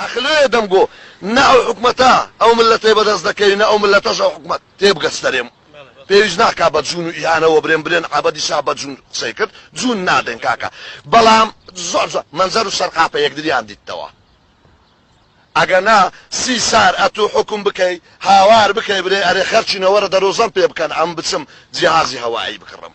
ئەخ لۆیە دەم گۆ نە ئەو حکومەتە ئەو ملەتەی بەدەست دەکەوی نە ئەو ملەتەش ئەو حکومەت تێبگە ستەرێم پێویست ناکا بە جون و ئیهانە وەبرێن برێن عەبەدی شا بە جون قسەی کرد جون نادەین کاکە بەڵام زۆر زۆر مەنزەر و سەرقاپە یەکدریان دیتەوە ئەگەنا سی سار ئەتو حوکم بکەی هاوار بکەی برێ ئەرێ خەرچینە وەرە دەرۆزەم پێ بکەن ئەم بچم جیهازی هەوایی بکڕم.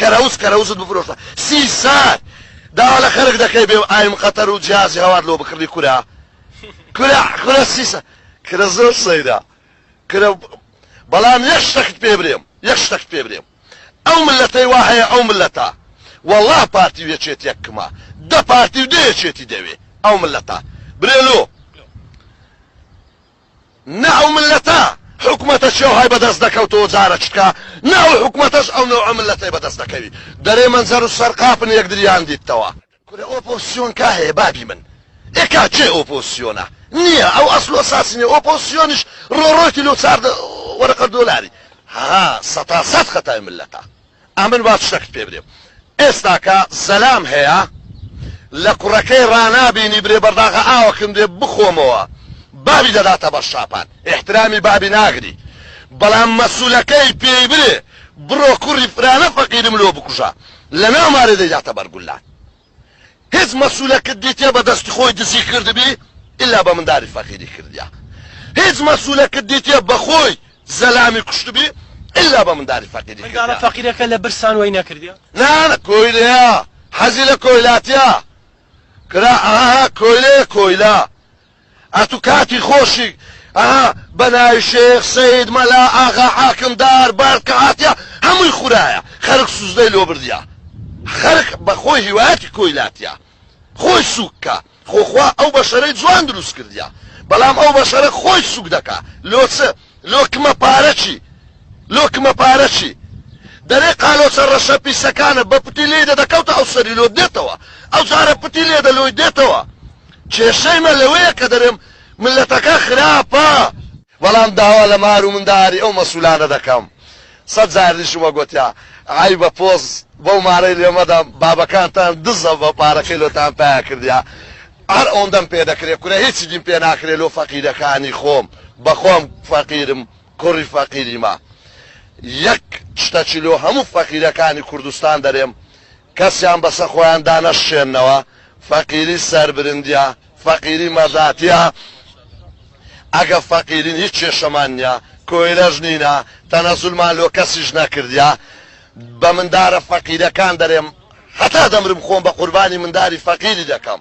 کەرەوز کەرەوزت بفرۆشە سی سار داوا لە خەرک دەکەی بێ و ئایم قەتەر و جیازی هەوار لۆ بکڕی کورە کورە کورە سی سار کورە زۆر سەیرە کورە بەڵام یەک شتەکت پێ برێم یەک شتەکت پێ برێم ئەو ملەتەی وا هەیە ئەو ملەتە وەڵا پارتی و یەکێتیەک کمە دە پارتی و دە یەکێتی دەوێ ئەو ملەتە برێ لۆ نە ئەو میللەتە حکومەتە چیاوهای بەدەست دەکەوت و جارە چتکا نە ئەو حکومەتەش ئەو نەوعە میللەتەی بەدەست دەکەوی دەرێ مەنجەر و سەر قاپن یەکدریان دیتتەوە. کورە ئۆپۆزسیۆن کا هەیە بابی من ئێ کا کێ ئۆپۆزسیۆنە نیە ئەو ئەسل و ئەساسی نیە ئۆپۆزسیۆنیش ڕۆڕۆیتی لۆ چار وەرەقە دۆلاری هەها سەتا سەت خەتای میللەتە. ئەمن وا شتەکت پێ برێ ئێستاکە زەلام هەیە لە کوڕەکەی ڕانابینی برێ بەرداغە ئاوەکن برێ بخۆمەوە بابی دەداتە بەر شاپان ئیحترامی بابی ناگری بەڵام مەسولەکەی پێی برێ بڕۆ کوڕی فرانە فەقیرم لۆ بکوژە لە ناو مارێ دەیداتە بەر گولان هیچ مەسولەکت دیتیە بە دەستی خۆی دزی کردبی ئیلا بە منداری فەقیری کردیە هیچ مەسولەکت دیتیە بە خۆی زەلامی کوشتبی ئیلا بە منداری فەقیری کردیە مندارە فەقیرەکە لە برسان وەی نەکردیە. نا کۆیلەیە حەزی لە کۆیلاتیە کرا ئاها کۆیلەیە کۆیلە ئەتو کاتی خۆشیک ئەها بەناوی شێخ سەید مەلا ئاغا حاکم دار بەرد کە هاتیە هەمووی خورایە خەرک سوزدەی لۆ بردیە خەرک بەخۆی هیوایەتی کۆی لاتیە خۆی سوک کا خۆ خوا ئەو بەشەرەی جوان دروست کردیە بەلام ئەو بەشەرە خۆی سوک دەکا لۆ چ لۆکمە پارە چی لۆکمە پارە چی دەرێ قالۆچە رەشە پیسەکانە بە پتی لێی دەدەکەوتە ئەو سەری لۆت دێتەوە ئەو جارە پتی لێ دە لۆی دێتەوە کێشەی مە لەوەیە کە دەرێم ملەتەکە خراپە بەڵام داوا لە مار و منداری ئەو مەسولانە دەکەم سەد جار ئیشمە گۆتیا عەیبە پۆز بەو مارەی لێ مەدە بابەکانتان دزە بە پارەکەی لۆتان پایا کردیا عەر ئەوندەم پێ دەکرێ کورە هیچیدیم پێ ناکرێ لۆ فەقیرەکانی خۆم بەخۆم فەقیرم کوری فەقیریمە یەک شتەچی لۆ هەموو فەقیرەکانی کوردستان دەرێم کەسیان بەسە خۆیان دانەشکێننەوە فەقیری سەربرندیە فەقیری مەزاتیە ئەگە فەقیرین هیچ کێشەمان نیە کۆیلەش نینە تەنەزولمان لۆ کەسیش نەکردیە بە مندارە فەقیرەکان دەرێم هەتا دەمرم خۆم بە قوربانی منداری فەقیری دەکەم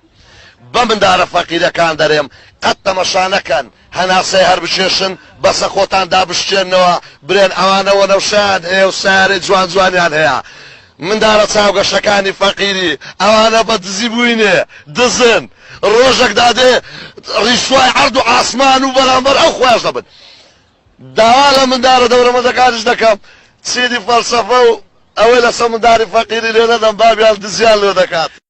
بە مندارە فەقیرەکان دەرێم قەت تەمەشا نەکەن هەناسەی هەر بکێشن بەسە خۆتان دابشکێننەوە برێن ئەوانە وەنەوشەیان هەیە و سەیارەی جوان جوانیان هەیە مندارە چاوگەشەکانی فەقیری ئەوانە بە دزی بوینێ دزن ڕۆژەک دادێ ڕیسوای عەرد و عاسمان و بەرامبەر ئەو خوایش دەبن داوا لە مندارە دەورەمەندەکانیش دەکەم چیدی فەلسەفە و ئەوەی لەسەر منداری فەقیری لێ نەدەن بابیان دزیان لێ دەکات.